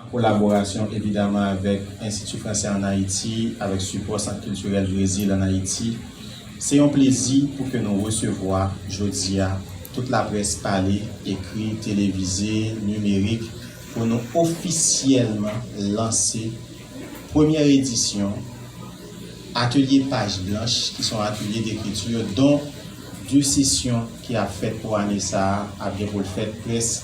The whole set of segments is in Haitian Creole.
An kolaborasyon evidaman avèk Enstiti Fransè ann Ayiti, avèk sipò Sant Kiltirèl Brezil ann Ayiti, se yon plezi pou ke nou resevwa jodi a tout laprès pale, ekri, televize, nimerik pou nou ofisyèlman lanse premyè edisyon Atelye Paj Blanch ki son atelye d'ekriti don 2 sesyon ki ap fèt pou ane sa a ap gen pou l fèt près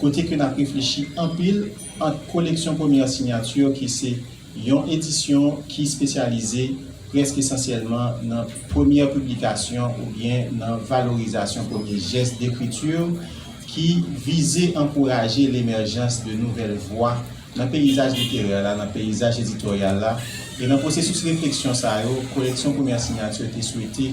kote ke nap reflechi anpil ant koleksyon Première Signature ki se yon edisyon ki spesyalize prèsk esansyèlman nan premyè piblikasyon oubyen nan valorizasyon premye jès dekriti ki vize ankouraje lemèjans de nouvèl vwa nan peyizaj literè la, nan peyizaj editoryal la, e nan pwosesis refleksyon sa yo, koleksyon Première Signature te swete.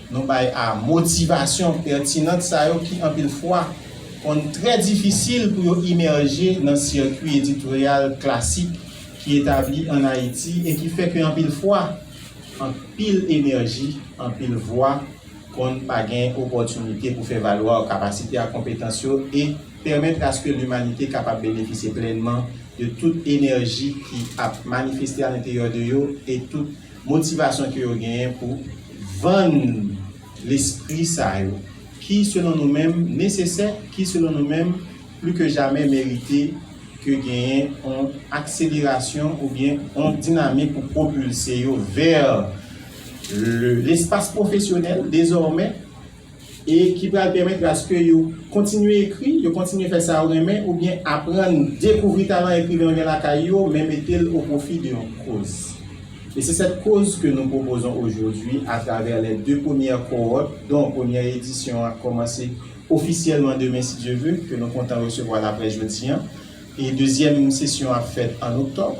Nou bay a motivasyon pètinant sa yo ki anpil fwa konn trè difisil pou yo imèje nan sikwi editoryal klasik ki etabli ann Ayiti e ki fè ke anpil fwa, anpil enèji, anpil vwa konn pa gen opòtinite pou fè valwa kapasite ak konpetans yo e pèmètre aske limanite kapab benefisye plènman de tout enèji ki ap manifeste alenteryè de yo e tout Motivasyon ke yo genyen pou vann lespri sa yo, ki selon nou menm nesesè, ki selon nou menm pli ke jamè merite ke genyen yon akselerasyon oubyen yon dinamik pou pwopilse yo vè lespas pwofesyonèl dezòmè. e ki pral pèmèt aske yo kontinye ekri, yo kontinye fè sa yo renmen oubyen aprann dekouvri talan ekriven yo gen lakay yo men mete l o pwofi de yon koz. E se sèt koz ke nou pwopozon ojodwi atravè lè de premyè kowòt don premyè edisyon ap kòmanse ofisyèlman demen si Dye ve ke nou kontan resevwa laprès jodi an e dezyèm sesyon ap fèt an oktòb.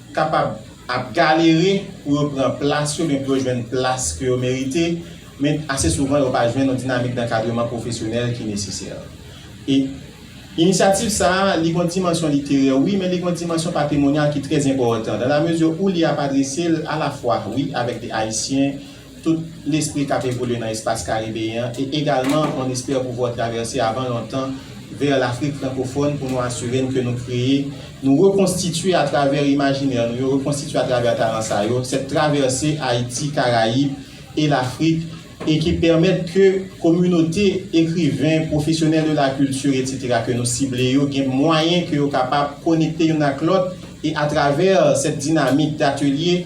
kapab ap galere pou yo pran plas yo men pou yo jwenn plas ke yo merite, men ase souvan yo pa jwenn yon dinamik dankadreman pwofesyonèl ki nesesè. E Inisyativ sa a, li gen yon dimansyon literè wi, men li gen yon dimansyon patrimonya ki trè enpòtan, dan la mezi ou li ap adrese l alafwa wi avèk de Ayisyen, tout lespri k ap evolye nan espas karibeyen an e egalman on espère pouvoir traverser avant longtemps vers l'Afrique francophone pou nou asire n ke nou kreye, nou rekonstitye atravè imajinè nou yo, rekonstitye atravè talan sa yo, cette traversée Haïti, Caraïbes et l'Afrique e ki pèmèt ke kominote ekriven, professionnels de la culture etc. Ke nou sible yo gen mwayen ke yo kapab konekte youn ak lòt e atravè cette dynamique d'atelier.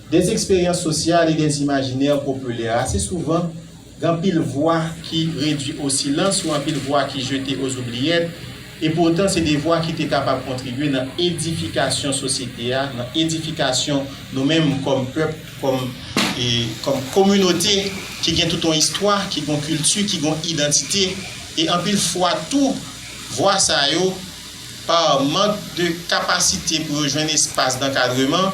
Des expériences sociales et des imaginaires populaires Ase souvan, gen anpil vwa ki redui o silans ou anpil vwa ki jete oz oubliyèt, e poutan se de vwa ki te kapab kontribye nan edifikasyon sosyete a, nan edifikasyon nou menm kòm pèp, kòm kominote ki gen tout yon istwa, ki gen yon kilti, ki gen yon idantite. E anpil fwa tou, vwa sa yo, par mank de kapasite pou yo jwenn espas dankadreman,